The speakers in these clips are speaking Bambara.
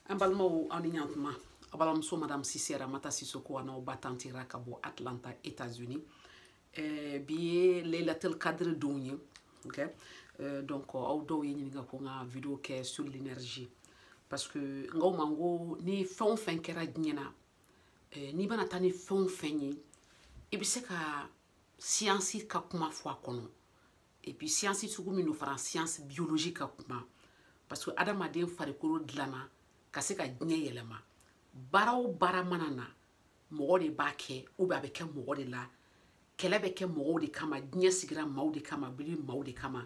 an balimaw aw ni yan tuma aw balimamuso madame sise ramata sisoko an'aw ba tanti ra ka bɔ atlanta états unis eh, bi ye leilatel kadiri don ye okay? eh, donc aw dɔw ye ɲininka ko n ka video kɛ sur l'énergie parce que n k'aw ma n ko ni fɛn o fɛn kɛra diɲɛ na eh, n'i bɛna taa ni fɛn o fɛn ye i bɛ se ka siyansi ka kuma fɔ a kɔnɔ et puis siyansi sugu min don fana siyansi biologie ka kuma parce que adamaden farikolo dilanna ka se ka diɲɛ yɛlɛma baara o baara mana na mɔgɔ de b'a kɛ ou bien a bɛ kɛ mɔgɔ de la kɛlɛ bɛ kɛ mɔgɔw de kama diɲɛ sigira maaw de kama bili maaw de kama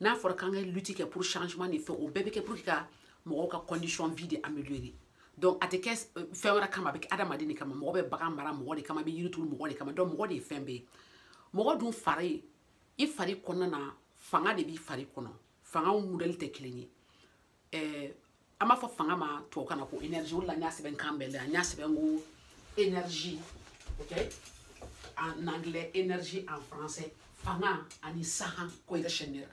n'a fɔra k'an ka lutte kɛ pour changement ni fɛn o bɛɛ bɛ kɛ pour que ka mɔgɔw ka condition vie de améliorer donc a tɛ kɛ fɛn wɛrɛ kama a bɛ kɛ adamaden de kama mɔgɔ bɛ bagan mara mɔgɔ de kama i bɛ yiri turu mɔgɔ de kama donc mɔgɔ de ye fɛn bɛɛ ye mɔgɔ dun fari i fari kɔnɔna na fanga de b'i fari kɔnɔ fangaw modèle tɛ kelen ye eh, an b'a fɔ fanga ma tubabukan na ko énergie o la n y'a sɛbɛn kan bɛɛ la n y'a sɛbɛn ko énergie ok en anglais énergie en français fanga ani sahan ko yɛrɛ sɛnɛra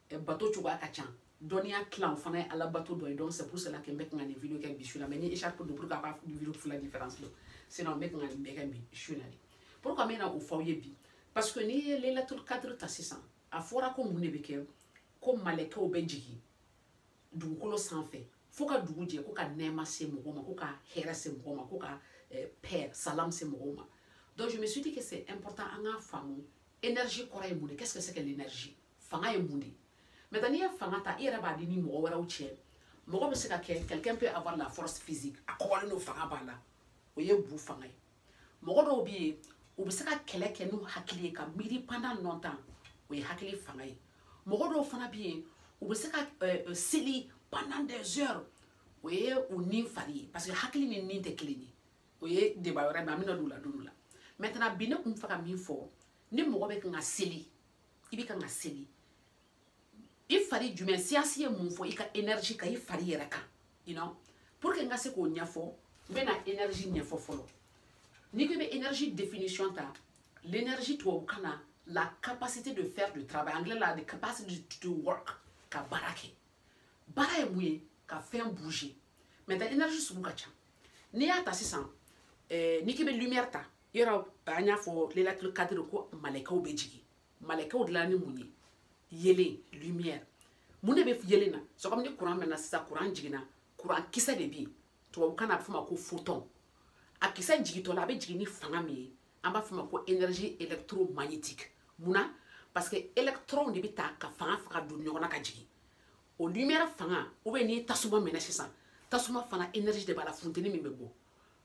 eh, bato cogoya ka ca dɔnniya tilan o fana ye ala bato dɔ ye donc c'est pour cela que n bɛ kan ka nin video kɛ bi su la mais n ye écharpe don pour que aw ka video fila différence dɔn sinon n bɛ kan ka nin bɛɛ kɛ bi su la de pourquoi n bɛna o f'aw ye bi parce que n'i ye leilatul kadiri ta sisan a fɔra ko mun de bɛ kɛ ko malɛkɛw bɛ jigin dugukolo sanfɛ fo ka dugu jɛ ko ka nɛɛma se mɔgɔ ma ko ka hɛrɛ se mɔgɔ ma ko ka eh, paix salam se mɔgɔw ma donc je me suis dit que c'est important an k'a faamu énergie kɔrɔ ye mun de qu'est ce que c'est que l'énergie fanga ye mun de ye maintenant n'i ye fanga ta i yɛrɛ b'a di ni mɔgɔ wɛrɛw cɛ mɔgɔ bɛ se ka kɛ quelqu'un peut avoir la force physique a kɔgɔlen don fanga b'a la o ye bu fanga ye mɔgɔ dɔw bɛ yen u bɛ se ka kɛlɛ kɛ n'u hakili ye ka miiri pendant longtemps o ye hakili fanga ye mɔgɔ dɔw fana bɛ yen u bɛ se ka euh, euh, seli pendant des heures o ye u ni fari ye parce que hakili ni ni tɛ kelen ye o ye débat wɛrɛ mais an bɛna don o la don dɔ la maintenant bi ne tun bɛ fɛ ka min fɔ ni mɔgɔ bɛ kan ka seli i bɛ kan ka seli i fari jumɛn siyansi ye mun fɔ i ka énergie kan i fari yɛrɛ kan you know pour que n ka se k'o ɲɛfɔ n bɛna énergie ɲɛfɔ fɔlɔ n'i ko i bɛ énergie définition ta l'énergie tubabukan na la capacité de faire du travail anglais la the capacity to work ka baara kɛ baara ye mun ye ka fɛn bouger maintenant énergie sugu ka ca n'i y'a ta sisan eh, n'i k'i bɛ lumière ta yɔrɔ an y'a fɔ Laylatul Qadr ko malɛkɛw bɛ jigin malɛkɛw dilanna ni mun ye yelen lumière mun de bɛ yelen na c'est comme ni kuran mɛnɛna sisan kuran jiginna kuran kisɛ de bɛ yen tubabukan na a bɛ f'o ma ko photon a kisɛ jigintɔ la a bɛ jigin ni fanga min ye an b'a f'o ma ko énergie électromagnétique mun na parce que électron de bɛ ta ka fanga faga don ɲɔgɔn na ka jigin o lumière fanga ou bien n'i ye tasuma mɛnɛ sisan tasuma fana énergie de b'a la funteni min bɛ bɔ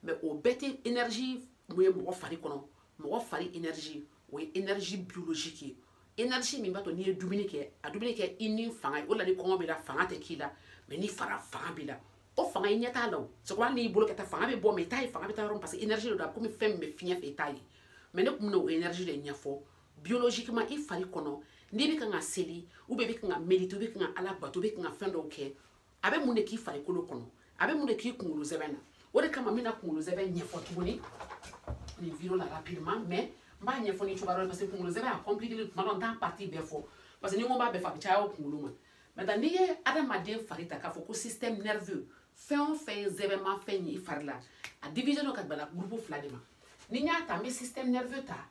mais o bɛɛ tɛ énergie mun ye mɔgɔ fari kɔnɔ mɔgɔ fari énergie o ye énergie biologique ye énergie min b'a to n'i ye dumuni kɛ a dumuni kɛ i ni fanga ye o la ni kɔngɔ b'i la fanga tɛ k'i la mais n'i fara fanga b'i la o fanga i ɲɛ t'a la o sabu hali n'i bolo kɛ tan fanga bɛ bɔ mais i t'a ye fanga bɛ taa yɔrɔ min parce que énergie don a bɛ komi fɛn min bɛ fiɲɛ fɛ i t'a ye mais ne tun bɛna o énergie de ɲɛfɔ biologiquement i fari kɔnɔ n'i bɛ kan ka seli ou bien i bɛ kan ka méditer i bɛ kan ka ala bato i bɛ kan ka fɛn dɔw kɛ a bɛ mun de k'i farikolo kɔnɔ a bɛ mun de k'i kunkolo zɛmɛ na o de kama n bɛna kunkolo zɛmɛ ɲɛfɔ tuguni nin vidéo la rapidement mais n b'a ɲɛfɔ ni cogoya dɔ ye parce que kunkolo zɛmɛ a compliqué tuma dɔ n t'a partie bɛɛ fɔ parce que ni n ko n b'a bɛɛ fɔ a bɛ caya o kunkolo ma maintenant n'i ye adamaden fari ta k'a fɔ ko système nerveux fɛn o fɛn ye zɛmɛmafɛn ye i fari la a divisélen don ka bɛn groupe fila de ma ni n y'a ta n bɛ système nerveux ta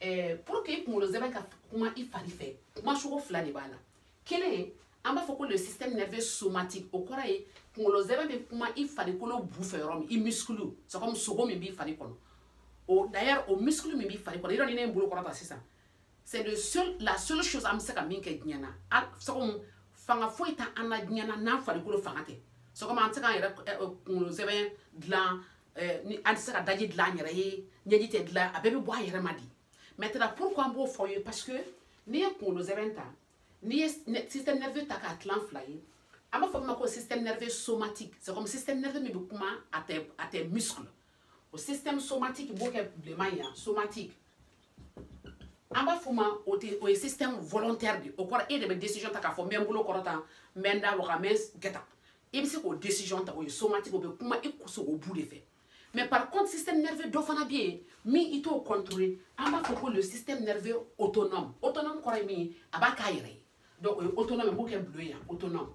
eh, pour que i kunkolo zɛmɛ ka kuma i fari fɛ kuma cogo fila de b'a la kelen an b'a fɔ ko le système nerveux somatique o kɔrɔ ye kunkolo zɛmɛ bɛ kuma i farikolo bu fɛ yɔrɔ min i muscle c'est comme sogo min b'i fari kɔnɔ o d'ailleurs o muscle min b'i fari kɔnɔ yɔrɔ ni ne ye n bolo kɔrɔta sisan c'est le seul la seule chose an bɛ se ka min kɛ diɲɛ na c'est comme fanga foyi t'an na diɲɛ na n'an farikolo fanga tɛ c'est comme an tɛ se k'an yɛrɛ kunkolo zɛmɛ dilan eh, ni an tɛ se ka daji dilan an yɛrɛ ye ɲɛji tɛ dilan a bɛɛ bɛ bɔ a yɛrɛ ma de maintenant pourquoi an b'o fɔ ye parce que n'i ye kunkolo zɛmɛ ta n'i ye système nerveux ta k'a tilan fila ye an b'a fɔ min ma ko système nerveux somatique c'est comme système nerveux min bɛ kuma a tɛ a tɛ muscle o système somatique n b'o kɛ bilenman ye yan somatique an b'a fɔ ma o tɛ o ye système volontaire de o kɔrɔ e de bɛ décision ta k'a fɔ n bɛ n bolo kɔrɔta n bɛ n da waga n bɛ n kɛ tan i bɛ se k'o décision ta o ye somatique o bɛ kuma i sogo bu de fɛ mais par contre système nerveux dɔ fana bɛ yen min i t'o contrôler an b'a fɔ ko le système nerveux autonome autonome kɔrɔ ye min ye a b'a k'a yɛrɛ ye donc o ye autonome ye n b'o kɛ bleu ye yan autonome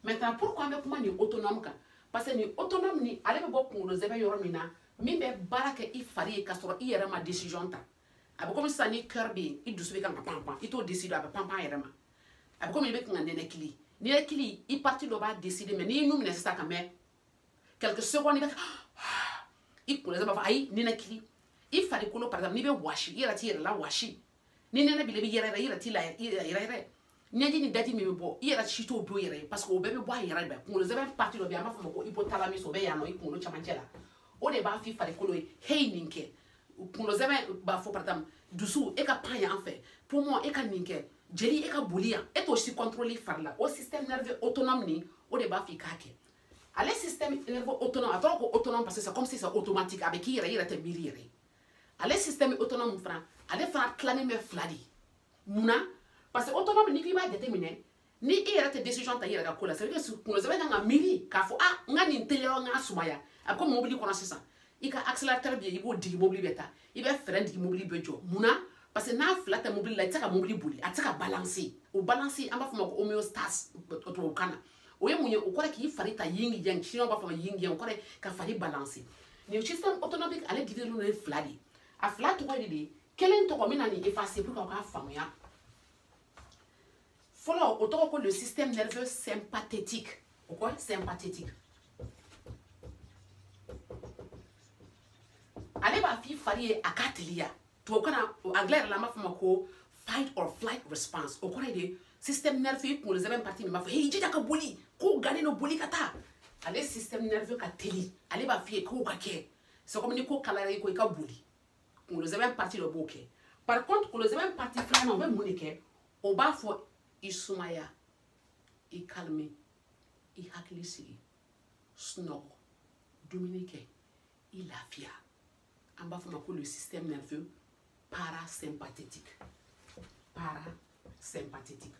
maintenant pourquoi an bɛ kuma nin autonome kan parce que nin autonome nin ale bɛ bɔ kunkolo zɛmɛ yɔrɔ min na min bɛ baara kɛ i fari ye k'a sɔrɔ i yɛrɛ ma décision ta a bɛ komi sisan n'i cœur bɛ yen i dusu bɛ kan ka panpan i t'o décider a bɛ panpan a yɛrɛ ma a bɛ komi i bɛ kan ka nɛnɛkili nɛnɛkili i partie dɔ b'a décider mais n'i y'i nun minɛ sisan ka mɛn quelques secondes i bɛ i kunkolo b'a fɔ ayi nɛnɛkili i farikolo par exemple n'i bɛ wɔsi i yɛrɛ t'i yɛrɛ lawɔsi ni nɛnɛ b'i la i bɛ yɛrɛyɛrɛ i yɛrɛ t'i layɛrɛyɛrɛ ɲɛji ni daji min bɛ bɔ i yɛrɛ si t'o don yɛrɛ ye parce que o bɛɛ bɛ bɔ a yɛrɛ bɛɛ kunkolo zɛmɛ partie dɔ bɛ yen an b'a fɔ o ma ko hypothalamus o bɛ yan nɔ i kunkolo camancɛ la o de b'a f'i farikolo ye heyi nin kɛ kunkolo zɛmɛ b'a fɔ par exemple dusu e ka pan yan fɛ poumon e ka nin kɛ jeli e ka boli yan e t'o si contrôler fari la o système nerveux autonome nin o de b'a f'i k'a kɛ ale système nerveux autonome a tɔgɔ ko autonome parce que c'est comme si c'est automatique a bɛ k'i yɛrɛ i yɛrɛ tɛ miiri yɛrɛ ale système autonome fana ale fana tilannen bɛ fila de mun na parce que autonome n'i k'i b'a jateminɛ ni i yɛrɛ tɛ décision ta i yɛrɛ ka ko la c'est à dire que kunkolo zɛmɛ kan ka miiri k'a fɔ ah n ka nin teliya n k'a sumaya a bɛ komi mobili kɔnɔ sisan i ka accélérateur bɛ yen i b'o digi mobili bɛ taa i bɛ frein digi mobili bɛ jɔ mun na parce que n'a fila tɛ mobili la i tɛ se ka mobili boli a tɛ se ka balancer o balancer an b'a fɔ o ma ko homéostase tubabukan na o ye mun ye o kɔrɔ k'i fari ta yin yang chinois b'a fɔ ma yin yang o kɔrɔ ka fari balancer nin système autonomique ale divisélen don fila de a fila tɔgɔ de ye kelen tɔgɔ n bɛna nin effacer pour que aw k'a faamuya fɔlɔ o tɔgɔ ko le système nerveux sympathétique o kɔ sympathétique ale b'a f'i fari ye a ka teliya tubabukan na anglais yɛrɛ la an b'a f'a ma ko fight or flight response o kɔrɔ ye de système nerveux i kunkolo zɛmɛ partie min b'a fɔ he jija ka boli ko gannen don boli ka taa ale système nerveux ka teli ale b'a f'i ye k'o ka kɛ c'est comme ni ko kalayara i kɔ i ka boli kunkolo zɛmɛ partie dɔ b'o kɛ par contre kunkolo zɛmɛ partie filanan o bɛ mun de kɛ o b'a fɔ i sumaya i calmer i hakili sigi sunɔgɔ dumuni kɛ i lafiya an b'a f'a ma ko le système nerveux parasympathétique parasympathétique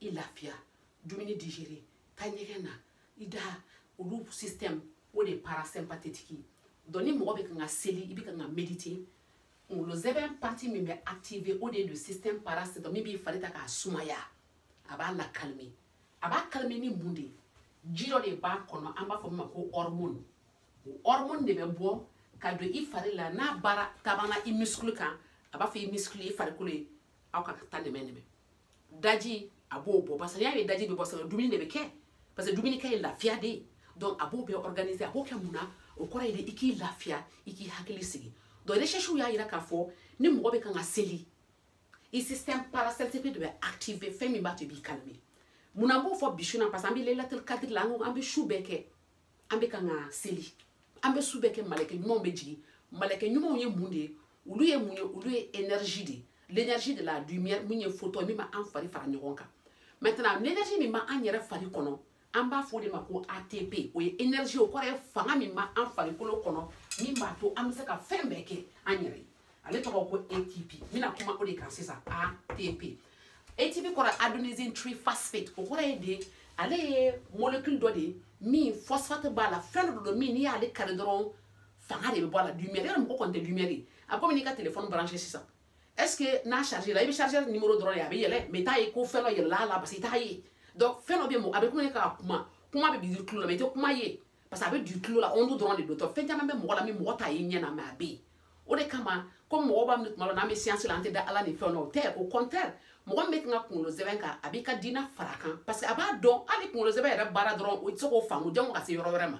i lafiya dumuni digérer taa ɲɛgɛn na i da olu système o de ye parasympathétique donc ni mɔgɔ bɛ kan ka seli i bɛ kan ka méditer kunkolo zɛmɛ partie min bɛ activer o de ye le système parasympathique min b'i fari ta k'a sumaya a b'a la calmer a b'a calmer ni mun de ye ji dɔ de b'a kɔnɔ an b'a fɔ min ma ko hormone o hormone de bɛ bɔ ka don i fari la n'a baara taabana i muscle kan a b'a fɔ i muscle i farikolo ye aw ka taa nɛmɛnɛmɛ daji a b'o bɔ parce que n'i y'a ye daji bɛ bɔ sabu dumuni de bɛ kɛ parce que dumunikɛ ye lafiya de ye donc a b'o bɛɛ organiser a b'o kɛ mun na o kɔrɔ ye de i k'i lafiya i k'i hakili sigi donc recherchew y'a yira k'a fɔ ni mɔgɔ bɛ kan ka seli i système parasympathique de bɛ activer fɛn min b'a to i b'i calmer mun na n b'o fɔ bi su in na parce que an bɛ laylatul kadiri la an ko an bɛ su bɛɛ kɛ an bɛ kan ka seli an bɛ su bɛɛ kɛ malɛkɛ ɲumanw bɛ jigin malɛkɛ ɲumanw ye mun de ye olu ye mun ye olu ye énergie de ye l'énergie de la lumière min ye photon min b'an fari fara ɲɔgɔn kan maintenant l'énergie min b'an yɛrɛ fari kɔnɔ an b'a fɔ o de ma ko ATP o ye énergie o kɔrɔ ye fanga min b'an farikolo kɔnɔ min b'a to an bɛ se ka fɛn bɛɛ kɛ an yɛrɛ ye ale tɔgɔ ko ATP n bɛna kuma o de kan sisan ATP ATP kɔrɔ adenosine triphosphate o kɔrɔ ye de ale ye molécule dɔ de ye min phosphate b'a la fɛn dɔ don min n'i y'ale kari dɔrɔn fanga de bɛ bɔ a la lumière yɛrɛ mɔgɔ kɔni tɛ lumière ye a bɛ komi n'i ka téléphone branché sisan est ce que n'a chargé la i bɛ chargeur numéro dɔrɔn ye a bɛ yɛlɛ mais i t'a ye ko fɛn dɔ yɛlɛla a la parce que i t'a ye donc fɛn dɔ bɛ yen a bɛ komi ne ka kuma kuma bɛ du i tulo la mais i tɛ kuma ye parce que a bɛ du tulo la onde dɔrɔn de don donc fɛn caman bɛ mɔgɔ la min mɔgɔ t'a ye ɲɛ na mais a bɛ yen o de kama comme mɔgɔ b'a minɛ tuma dɔ n'an bɛ science la an tɛ da ala ni fɛn na o tɛ au contraire mɔgɔ min bɛ kan ka kunkolo sɛmɛ kalan a b'i ka diina fara a kan parce que a b'a dɔn hali kunkolo sɛmɛ yɛrɛ baara dɔrɔn o tɛ se k'o faamu jango ka se yɔrɔ wɛrɛ ma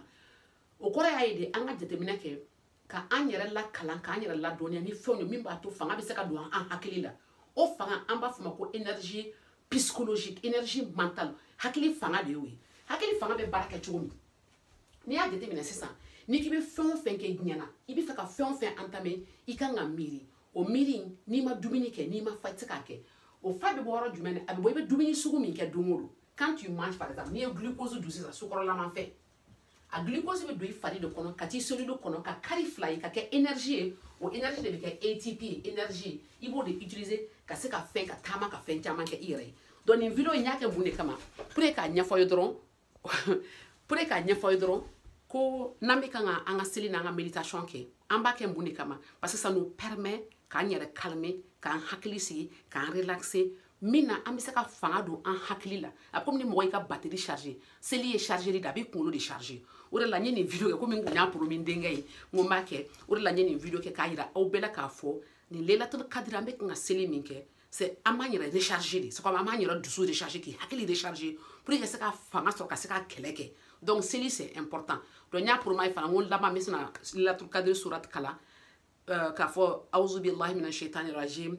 o kɔrɔ y'a ye de an ka jateminɛ kɛ ka an yɛrɛ lakalan k'an yɛrɛ ladɔnniya ni fɛnw ye min b'a to fanga bɛ se ka don an hakili la o fanga an b'a fɔ ma ko énergie psychologique énergie mentale hakili fanga de y'o ye hakili fanga bɛ baara kɛ cogo min n'i y'a jateminɛ sisan n'i k'i bɛ fɛn o fɛn kɛ diɲɛ na i bɛ fɛ ka fɛn o fɛn entamer i kan ka miiri o miiri n'i ma dumuni kɛ n'i ma fa i tɛ se k'a kɛ o fa bɛ bɔ yɔrɔ jumɛn na a bɛ bɔ i bɛ dumuni sugu min kɛ don o don quand tu manges par exemple n'i ye glucose dun sisan sukɔrɔlama fɛn a glucose bɛ don i fari de kɔnɔ ka t'i cellule kɔnɔ ka kari fila ye ka kɛ énergie ye o énergie de bɛ kɛ ATP ye énergie i b'o de utiliser ka se ka fɛn ka taama ka fɛn caman kɛ i yɛrɛ ye donc nin video in n y'a kɛ mun de kama pour que k'a ɲɛfɔ aw ye dɔrɔn pour que k'a ɲɛfɔ aw ye dɔrɔn ko n'an bɛ kan ka an ka seli n'an ka méditation kɛ an b'a kɛ mun de kama parce que ça nous permet k'an yɛrɛ calmer k'an hakili sigi k'an relaxer min na an bɛ se ka fanga don an hakili la a bɛ komi ni mɔgɔ y'i ka batterie charger seli ye chargeli de a b'i kunkolo de charger o de la n ye nin video kɛ komi n kun y'a promis n denkɛ ye n ko n b'a kɛ o de la n ye nin video kɛ k'a yira aw bɛɛ la k'a fɔ nin lelatul kadiri an bɛ kan ka seli min kɛ c'est an b'an yɛrɛ recharger de c'est comme an b'an yɛrɛ dusu recharger k'i hakili recharger pour ka se ka fanga sɔrɔ ka se ka kɛlɛ kɛ donc seli c'est important donc n y'a promis aw ye fana n ko laban n bɛ se na lelatul kadiri surat kalan k'a fɔ awuzubilahi mina shaitani rajim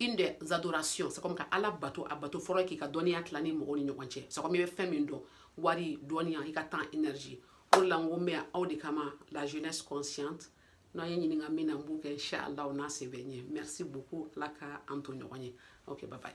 une des adorations c'est comme ka ala bato a bato fɔlɔ k'i ka dɔnniya tila ni mɔgɔw ni ɲɔgɔn cɛ c'est comme i bɛ fɛn min dɔn wari dɔnniya i ka temps énergie o de la n ko n bɛ yan aw de kama la jeunesse consciente n'aw ye n ɲininka min na n b'o kɛ inshallah n'a se bɛ n ye merci beaucoup ala ka an to ɲɔgɔn ye ok bye bye